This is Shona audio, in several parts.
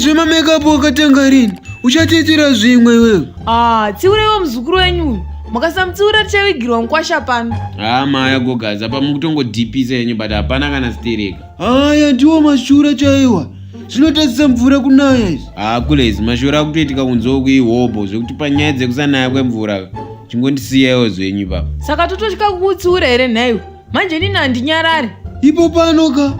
zvema makeup wakatanga rini uchatiitira zvimwe iwewe ah tsiureiwo muzukuru wenyu uyu makasamutsiura tichavigirwa mukwasha pano haa ah, maya gogaza pamukutongodhipisa yenyu but hapana kana stereka Aya ndiwo mashura chaiwa zvinotadzisa mvura kunaya izvi haa kule izi mashura akutoitika kunzoo kuihobho zvekuti panyaya dzekusanaya kwemvura chingondisiyaiwo zvenyu ipapa saka tototya kukutsiura here nhaiwe manje inini handinyarari ipo pano ka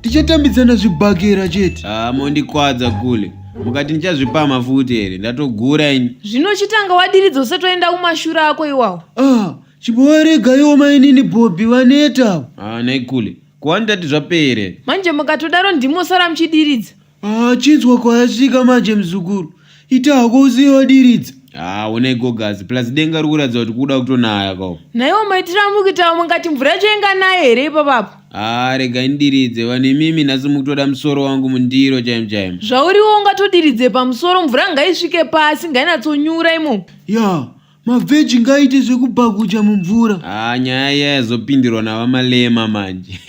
tichatambidzana zvibhakera chete haa mondikwadza kule mukati ndichazvipama futi here ndatogura ini zvino chitanga wadiridza usati waenda kumashura ako iwawo ah chimbowaregaiwo mainini bhobhi vaneta haa nhaikule Ko handati zvapere. Manje mukatodaro ndimi mosara muchidiridza. Ah, chinzwa kwayasvika manje muzukuru. Ita hako usiye wadiridza. Ah, onai gogazi plus denga riri kuratidza kuti kuda kutonaya kawo. Naiwo maitira mukitawo mungati mvura yacho inga nayo here ipapapo. Ah, regai ndidiridze vanhu imimi nhasi mukutoda musoro wangu mundiro chaimo chaimo. Zvauriwo ungatodiridze pamusoro mvura ngaisvike pasi ngainatsonyura imomo. Ya, mavheji ngaite zvekubhaguja mumvura ah nyaya iya yazopindirwa navamalema manje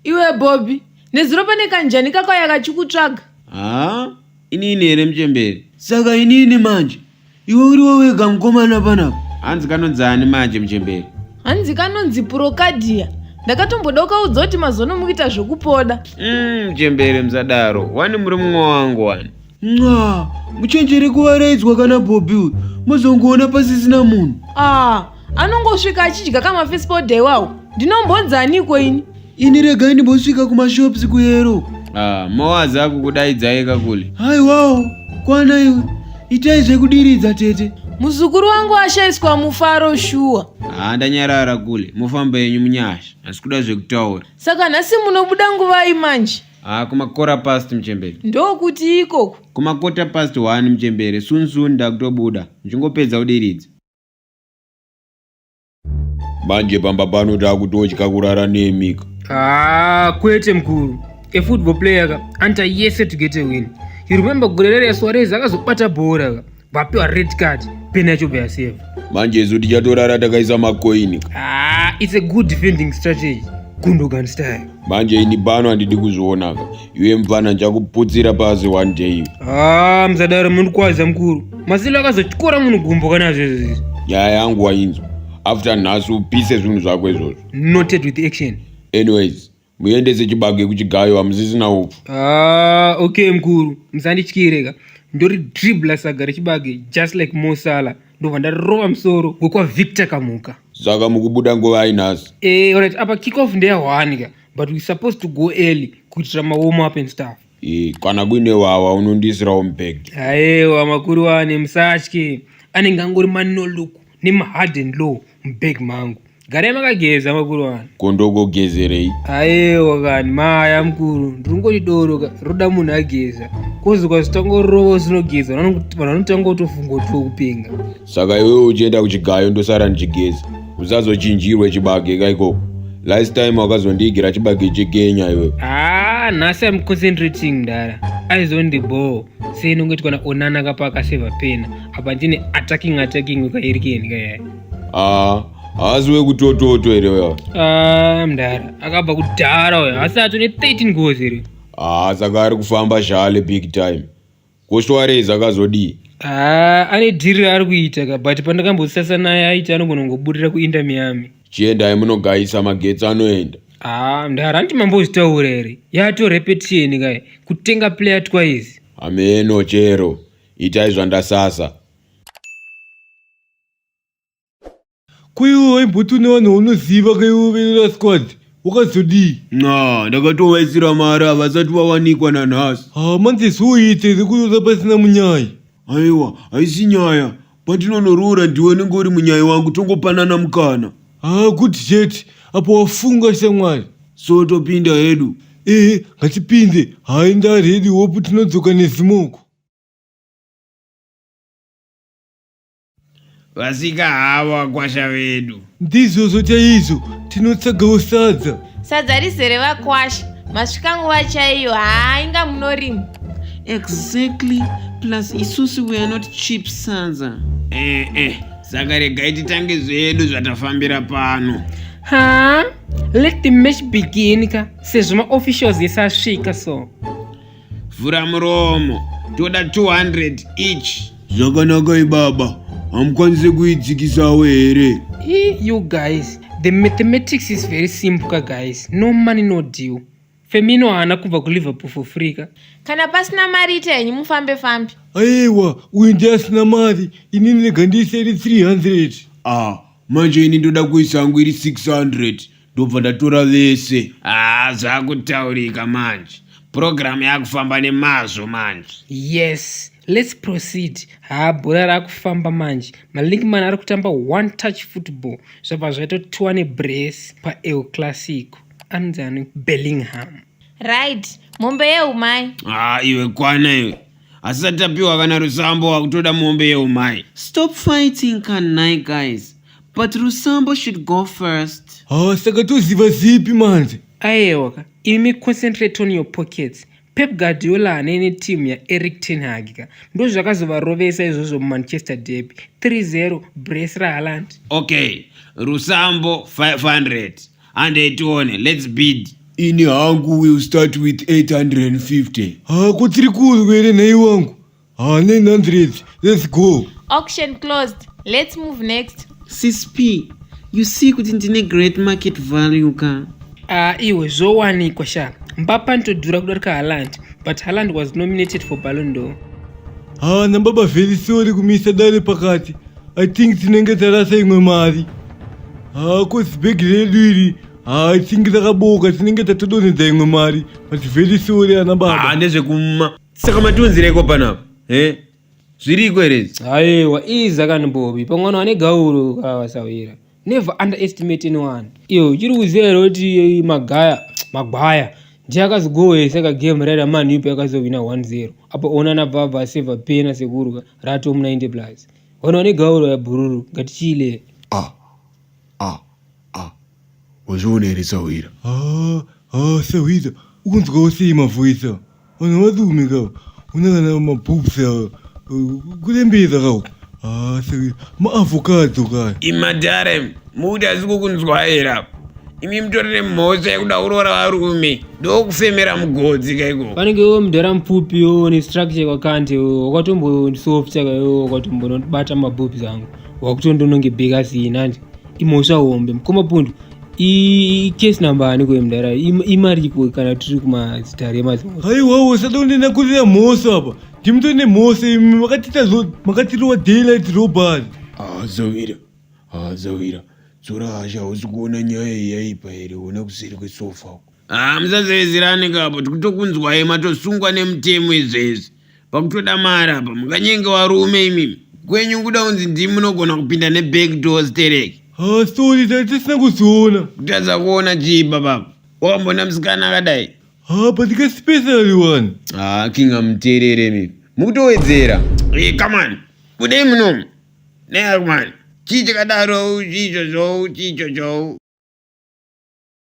iwe bobby nezuro pane kanjani kakauya kachikutsvaga ah inini here muchemberi saka inini manje iwe uriwo wega mukomana panapa hanzi kanonzi ani manje muchemberi hanzi kanonzi purokadhiya ndakatomboda ukaudza kuti mazono mukuita zvekupoda mm, muchemberi musadaro wani muri mumwe wangu wani nxa muchenjere kuvaraidzwa kana bhobhi uyu mozongoona pasisina munhu ah anongosvika achidya kamafisipodha iwawo ndinombonzaniko ini ini regai ndimbosvika kumashops kuyero ah, mowazi akukudaidzai kakule haiwawo kwana iwe itai zvekudiridza tete muzukuru wangu ashaiswa mufaro shuwa haa ndanyarara kule mofamba yenyu munyasha asi kuda zvekutaura saka nhasi munobuda nguvai manje Ah, kumakora past mchembere. Ndokuti ikoku. Kumakota past one mchembere. Soon soon ndakutobuda. Ndingopedza udiridzi. Manje pamba pano takutotya kurara nemi. Ah, kwete mkuru. A football player ka anta yese to get a win. You remember gurerere ya Suarez akazobata bhora ka. vapiwa red card pena yachobva yaseva manje isu tichatorara takaisa makoini ah, it's a good defending strategy gundogan style manje ini pano handidi kuzvionaka iwe mfana ndichakuputsira pasi one day ah, msadaro mundikwaza mukuru masilo akazotyora munhu gumbo kana zvezvezvi nyaya yangu wainzwa after nhasi upise zvinhu zvako izvozvo noted with action anyways muendese chibage kuchigayo hamusisina upfu ah, okay mkuru musandityire ka ndori dribla saga rechibage just like mosala ndobva ndarova musoro wekwavictor kamuka saka mukubuda nguva ainhasi e, eh, right apa kick off ndeya one ka but we supposed to go early kuitira mawarm up and stuff Eh, kana kuine wawa unondiisirawo mubag aewa makuru wane musatye anenge angori manolok nemahard and low mubag mangu garai makageza makuru wane kondogogezerei aewa kani maya mukuru ndirungoti doro ka roda munhu ageza kozi kwazitangorova usinogeza vanhu vanotanga kutofunga kuti ukupenga saka iwewe uchienda kuchigayo ndosara ndichigeza usazochinjirwe chibage ka ikoko last time wakazondiigira chibage chekenya iwe haa ah, nhasi am concentrating mdara aizondibhoo sei nongoitwa na onana kapa akaseva pena apa ndine attacking attacking wekairikeni kaya aa ah, haasi wekutototo here uya ah, mdara akabva kudhara uya haasi ato ne 13 gozi here haa saka ari kufamba shale big time Ko Suarez akazodii? Haa, ane dhiri raari kuita ka but pandakambosasa naye aiti anogona kungobudirira kuInter Miami. Chiendai munogayisa magetsi anoenda. Haa, mdara hanti mambozvitaura here? Yato repetition kai, kutenga player twice. Hameno chero, itai zvandasasa. Kuiwo waimboti une vanhu vaunoziva kaiwo verera squad wakazodii? Nxa, ndakatovaisira mari havasati vawanikwa nanhasi. Haa manje zvoi tiri kuroora pasina munyai? Aiwa, haisi nyaya. Patinonoroora ndiwe unenge uri munyai wangu tongopanana mukana. Haa good chete apa wafunga shamwari. So topinda hedu. Ehe ngatipinde. Haa indaa ready hope tinodzoka nezimoko. Vasika havo vakwasha vedu. Ndizvozvo chaizvo tinotsagawo sadza. Sadza rizere vakwasha. Masvika nguva chaiyo haa inga munorima. Exactly plus isusu we are not cheap sadza. Eh eh saka regai titange zvedu zvatafambira pano. Haa let the match begin ka sezvo maofficials ese asvika so. Vhura muromo, toda 200 each. Zvakanaka ibaba, hamukwanise kuidzikisawo here? Hey, you guys, the mathematics is very simple ka guys. No money no deal. Femino haana kubva kuLiverpool for free ka. Kana pasina mari ita henyu mufambe fambe. Aiwa, uyu ndiye asina mari, ini ndinenge ndiiseri 300. Ah, manje ini ndoda kuisa hangu iri 600. ndobva ndatora vese haa zvakutaurika manje purogiramu yakufamba nemazvo manje yes let's proceed haa bhora rakufamba manje malinkman ari kutamba one touch football zvabva zvaitotiwa nebress pael classico anonzi ani bellingham right mombe yeumai haa iwe kwana iwe hasisati tapiwa kana rusambo wakutoda mombe yeumai stop fighting kanai guys but rusambo should go first ha saka toziva zipi manje ayewaka imi concentrate on your pockets pep guardiola hane netimu yaeric tenhag ka ndozvakazovarovesa izvozvo mumanchester derby 30 bres rahaland okay rusambo 500 handei tione lets bid ini hangu will start with 850 ha ko tiri kuzwa here nhai wangu ha 900 let's go auction closed let's move next ccp you see kuti ndine great market value ka a ah, iwe zvowanikwa sha mbapa nditodhura kudarika haland but haland was nominated for balondor ha nambaba vheli sori kumisa dare pakati I think tinenge tarasa imwe mari. Haa cause bag redu iri haa I think rakabooka tinenge tatodonhedza imwe mari but very sorry ana baba. Haa ndezvekuma. Saka matiunzireko panapa. Eh? Zviriko here? Aiwa iza kani Bobby pamwana ane gauro kawasawira. never underestimate anyone iyo uchiri kuziva here kuti magaya magwaya ndiye akazogohwesa ka game raida man yupi akazohwina 10 apa ona nabvabva aseva pena sekurwa rato mu 90 plus ona one gauro yabhururu ngatichiile ah ah ah wazviona here sahwira ah ah sahwira unzwawo sei mavhoisa Vanhu vadume kawo. Une kana maboobs awo. Kurembeza kawo. Ah, saka maavocado kaya. imadhare mukuti asi kukunzwaira imi mutorere mhosva yekuda kuroora varume ndokufemera mugodzi kaiko vanenge iwo mudhara mupfupi iwo nestructure kwakant wakatombosoft saka iwo wakatombonobata mabobs angu wakutondono ngebheka sina nje imhosva hombe mukoma pundu icase number ani kuye mudara imariko kana tiri kumazitare emazimo haiwawo usada kunena kurira mhoso apa ndimutore nemhoso imi makatiita zvo makatirowa daylight robbery hazovira hazovira dzora hasha hausi kuona nyaya iyi yaipa here ona kuseri kwesofa uko haa musazevezerane kapo tikutokunzwai matosungwa nemutemo izvezvi pakutoda mari apa mukanyenge warume imimi kwenyu kuda kunzi ndimi munogona kupinda neback door stereki hasori tatisina kuzoona kutadza kuona chii baba wakambona musikana akadai haa but kespecially one haa king amuteerere mimi mukutowedzera e kamani kudei munomu neakumani chii chakadaro chicho zvowu chicho zvowu